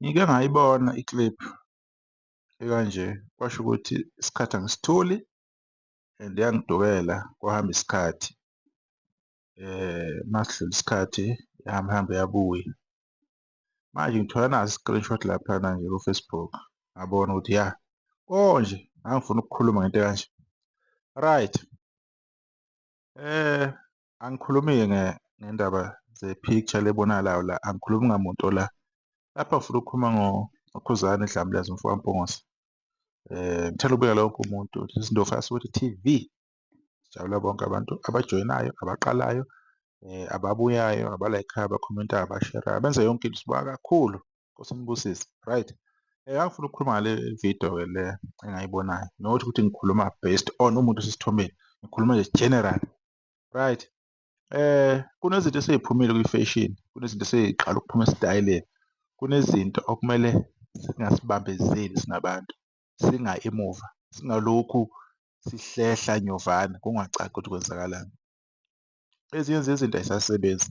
Ngike ngayibona i-clip ekanje, kwasho ukuthi isikhathi angisitholi and yangidukela kwahamba isikhathi masidlula isikhathi yahamba hambe yabuya. Manje ngithola nasi screenshot laphana nje ku-Facebook ngabona ukuthi ya konje ngangifuna ukukhuluma ngento ekanje. Right. Eh, angikhulumi-ke nge ngendaba ze-picture le ebonakalayo la, angikhulumi ngamuntu ola. Lapha ngifuna ukukhuluma ngo ngoKhuzani Dlamlazi umfo kaMpungose. Eh, ngithanda ukubeka lonke umuntu, this is Ndlovu Asuthi TV. Sijabula bonke abantu abajoyinayo, abaqalayo, eh, ababuyayo, abalayikhayo, abakhomentayo, abasherayo, abenza yonke into. Sibonga kakhulu Nkosi umbusise. Right. Eh ngangifuna ukukhuluma ngale video ke le engayibonayo. Nokuthi ukuthi ngikhuluma based on umuntu osesithombeni. Ngikhuluma nje general. Right. Eh kunezinto eseziphumile kwi-fashion, kunezinto eseziqala ukuphuma esitayeleni. Kunezinto okumele singasibambezeli singabantu. Singa emuva, singalokhu sihlehla nyovana kungacaki ukuthi kwenzakalani. Ezinye zezinto ayisasebenzi.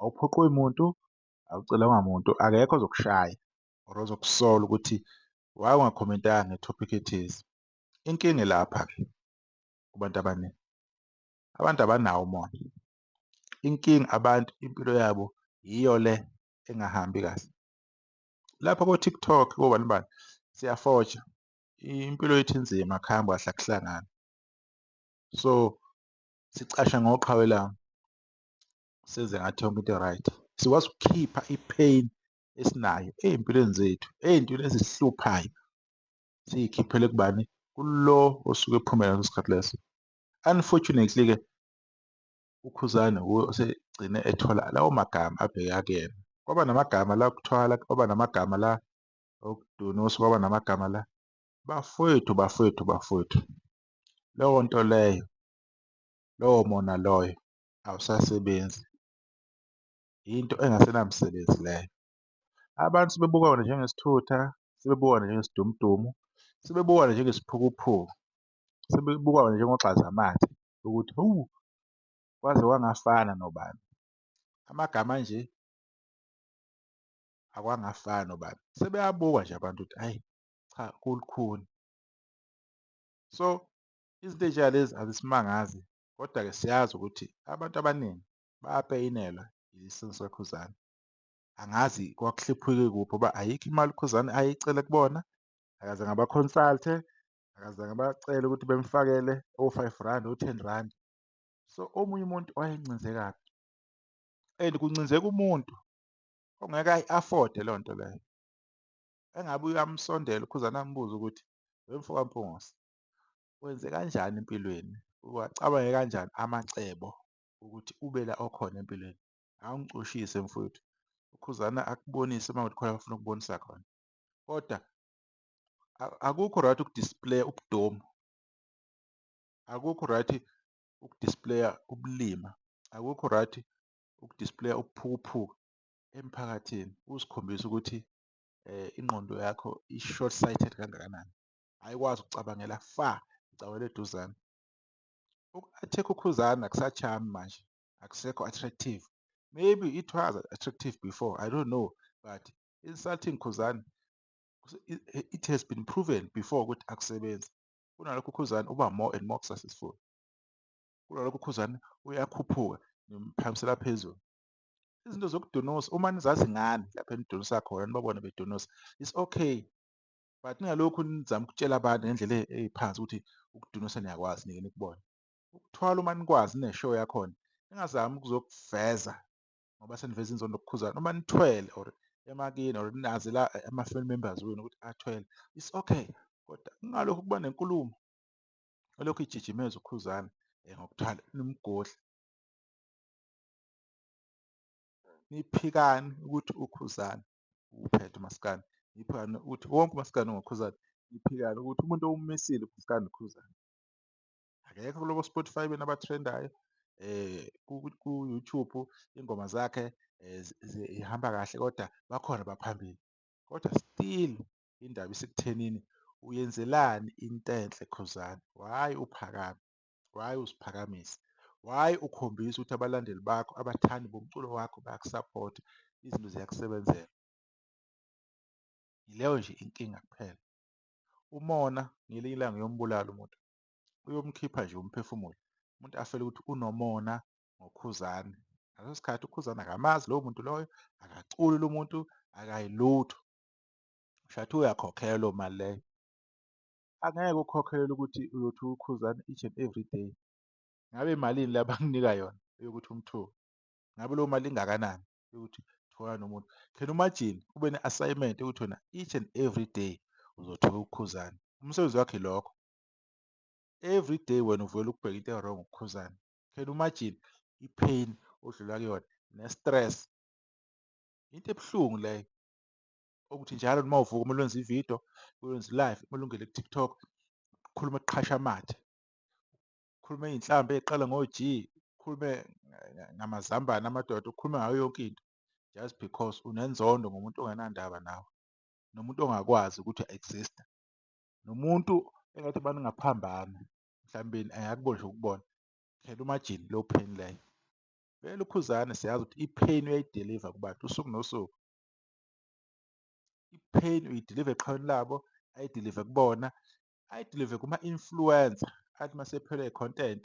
awuphoqwe muntu awucelwanga muntu akekho ozokushaya or ozokusola ukuthi why ungakhomentanga ngetopic ethize inkinga lapha ke kubantu abaningi abantu abanawo umona inkinga abantu impilo yabo yiyo le engahambi kahle lapha ko-tiktok kobani bani siyafoja impilo yethu inzima kuhambe kahle akuhlangani so sicasha ngoqhawe lami senze ngathi yonke into right sikwazi ukukhipha i-pain esinayo ey'mpilweni zethu ey'ntweni ezihluphayo siyikhiphele kubani kulo osuke ephumele ngaleso sikhathi leso unfortunately-ke ukhuzane wuye osegcine ethola lawo magama abheke akuyena kwaba namagama la kuthwala kwaba namagama la okudunusa kwaba namagama la bafowethu bafowethu bafowethu leyo nto leyo lowo mona loyo awusasebenzi, yinto engasenamsebenzi leyo. Abantu sebebuka wona njengesithutha, sebebuka wona njengesidumudumu, sebebuka wona njengesiphukuphuku, sebebuka wona njengogxazamathe ukuthi hawu, kwaze kwangafana nobani. Amagama anje akwangafani nobani, sebeyabuka nje abantu ukuthi hhayi cha kulukhuni. So izinto ey'njengalezi azisimangazi Kodwa-ke siyazi ukuthi abantu abaningi bayapeyinelwa yisimo sikaKhuzani. Angazi kwakuhliphwike kuphi ngoba ayikho imali uKhuzani ayicele kubona, akazange abakhonsalte, akazange abacele ukuthi bemfakele o-five rand, o-ten rand. So, omunye umuntu wayencinze kabi and kuncinzeka umuntu ongeke ayi-afode loo nto leyo. Engabe uyamsondela uKhuzani ambuze ukuthi, wemfoka Mpungose, wenze kanjani empilweni, uwacabange kanjani amacebo ukuthi ube la okhona empilweni. Awungicushise mfwethu, uKhuzana akubonise uma kuthi khona afuna ukubonisa khona, kodwa akukho right ukudisplaya ubudomu, akukho right ukudisplaya ubulima, akukho right ukudisplaya ukuphukuphuka emphakathini, uzikhombisa ukuthi um ingqondo yakho i-short sighted kangakanani. ayikwazi ukucabangela far icawela eduzane. Uku-attack ukhuzana akusachami manje akusekho attractive maybe it was attractive before i don't know but insulting khuzana it has been proven before ukuthi akusebenzi kunalokho ukhuzana uba more and more successful kunalokho ukhuzana uyakhuphuka nimphakamisela phezulu izinto zokudonosa uma nizazi ngani lapho enidonisa khona nibabone bedonosa it's okay but ningalokhu nizama ukutshela abantu ngendlela e-, eyiphansi ukuthi ukudunisa niyakwazi nike nikubone ukuthwala uma nikwazi neshow yakhona ningazami ukuzokuveza ngoba seniveza inzondo kukhuzana uma nithwele or emakini or nazi la eh, ama-family members wenu ukuthi athwele it's okay kodwa kungalokhu kuba nenkulumo olokhu ijijimeza ukhuzana um eh, ngokuthwala nimgodle niphikani ukuthi ukhuzana uphethe umaskandi iphikane ukuthi wonke umaskandi ngokhuzane iphikane ukuthi umuntu owumisile umaskandi khuzane akekho kuloko spotify bena abathrendayo eh ku-youtube ingoma zakhe eh, zihamba kahle kodwa bakhona baphambili kodwa still indaba isekuthenini uyenzelani into enhle khuzane why uphakame Why uziphakamisa? Why ukhombisa ukuthi abalandeli bakho, abathandi bomculo wakho bayakusaphotha, izinto ziyakusebenzela? Yileyo nje inkinga kuphela. Umona ngelinye ilanga uyombulala umuntu, uyomkhipha nje umphefumulo. Umuntu afele ukuthi unomona ngoKhuzani. Ngaleso sikhathi uKhuzani akamazi lowo muntu loyo, akaculi lo muntu, akayilutho. Ushathi uyakhokhelwa mali leyo. angeke ukhokhelele ukuthi uyothi ukhuzana each and every day ngabe malini la banginika yona yokuthi umthuke ngabe leyo mali ingakanani yokuthi thola nomuntu can imagine ube ne-assignment yokuthi wena each and every day uzothuka ukhuzana umsebenzi wakhe lokho every day wena uvela ukubheka into ewrong ukukhuzana can imagine i-pain odlula kuyona ne-stress into ebuhlungu leyo okuthi njalo noma uvuka kumele wenze ividiyo wenze live kumele ungene ku-tiktok khulume kuqhasha amathe khulume iy'nhlamba ey'qala ngo-g ukhulume ngamazambane amadoda ukhulume ngayo yonke into just because unenzondo ngomuntu ongenandaba nawe nomuntu ongakwazi ukuthi exista nomuntu engathi abantu ngaphambana mhlawumbeni angakuboni nje ukubona khela umajini low pain leyo vele ukhuzane siyazi ukuthi i-pain uyayideliva kubantu usuku nosuku I-pain uyidiliva eqhawini labo, ayidilive kubona, ayidilive kuma-influencer athi uma sephelwe i-content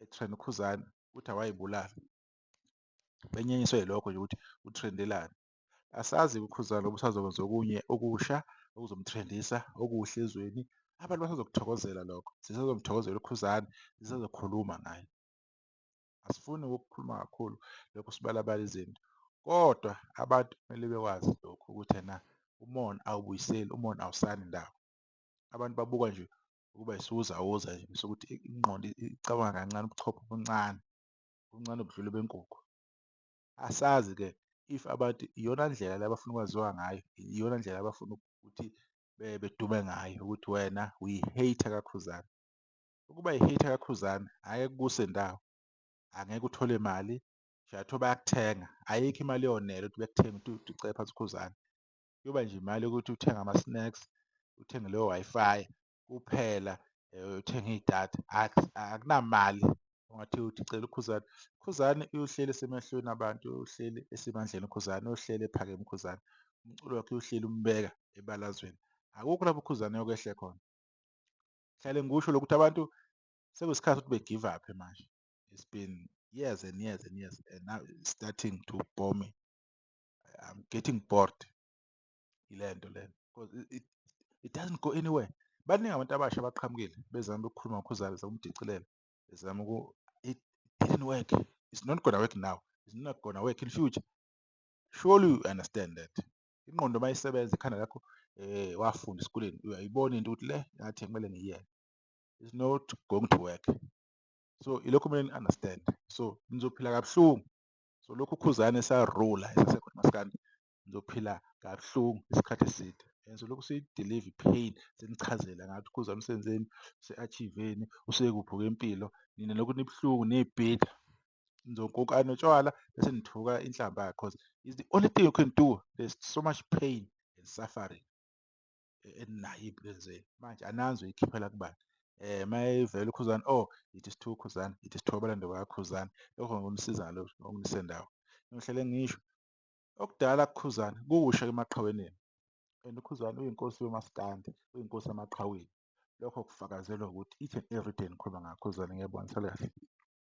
e-trend uKhuzani ukuthi awayibulali. Benyenyiswe yilokho nje ukuthi utrendelani. Asazi-ke uKhuzani ngoba usazokwenza okunye okusha okuzomthrendisa okuhle ezweni. Abantu basazokuthokozela lokho, sisazomthokozela uKhuzani, sisazokhuluma ngaye. Asifuni ukukhuluma kakhulu lokhu sibalabala izinto. Kodwa abantu kumele bekwazi lokhu ukuthi ena umona awubuyiseli, umona awusani ndawo. Abantu babuka nje ukuba isiwuzawuza nje bese ukuthi ingqondo icabanga kancane, ubuchopho obuncane, obuncane obudlula benkukhu. Asazi-ke if abantu iyona ndlela le abafuna ukwaziwa ngayo, iyona ndlela abafuna ukuthi bedume ngayo ukuthi wena uyi-hater kakhuzane. Ukuba yi hater ka Khuzani angeke kukuse ndawo angeke uthole mali Jato bayakuthenga ayikho imali yonele ukuthi bekuthenga ukuthi ucele phansi uKhuzani kuyoba nje imali yokuthi uthenge ama snacks uthenge leyo wifi kuphela eh, uthenge idatha akunamali ungathi uthi cela uKhuzani Khuzani uyohleli esemehlweni abantu uyohleli esemandleni uKhuzani uyohleli ephakeme uKhuzani umculo wakhe uyohleli umbeka ebalazweni akukho lapho uKhuzani yokwehle khona Ngihlale ngikusho lokhu ukuthi abantu sekuyisikhathi ukuthi be-give up-e manje. It's been years and years and years and now it's starting to bore me. I'm getting bored yile nto lena because it, it, it doesn't go anywhere. Baningi abantu abasha abaqhamukile bezama ukukhuluma ngoKhuzani, bezama ukudicilela, bezama uku it didn't work. It's not gonna work now. It's not gonna work in future. Surely you understand that. ingqondo uma isebenza ikhanda lakho eh wafunda esikoleni uyayibona into ukuthi le ngathi kumele ngiyiyeke is not going to work so ilokhu kumele ni-understand so nizophila kabuhlungu so lokhu ukhuzane esarula esasekhona maskandi nizophila kabuhlungu isikhathi eside and so lokhu siyidelive pain senichazela ngathi ukhuzane usenzeni use-achiveni usekuphi kwempilo nina lokhu nibuhlungu niyibhida nizokoka notshwala bese nithuka inhlamba yakhe cause is the only thing you can do there's so much pain and suffering eninayo ey'mpilweni zenu manje ananzi uyikhiphela kubani eh mayivela ukhuzani oh it is too khuzani it is too abalando bakakhuzani lokho ngokumsiza ngalokho ngokumnise ndawo ngihlele ngisho okudala kukhuzani kuwusha emaqhaweneni and ukhuzani uyinkosi yomaskandi uyinkosi yamaqhaweni lokho kufakazelwa ukuthi each and every day nikhuluma ngakhuzani ngiyabona sale kahle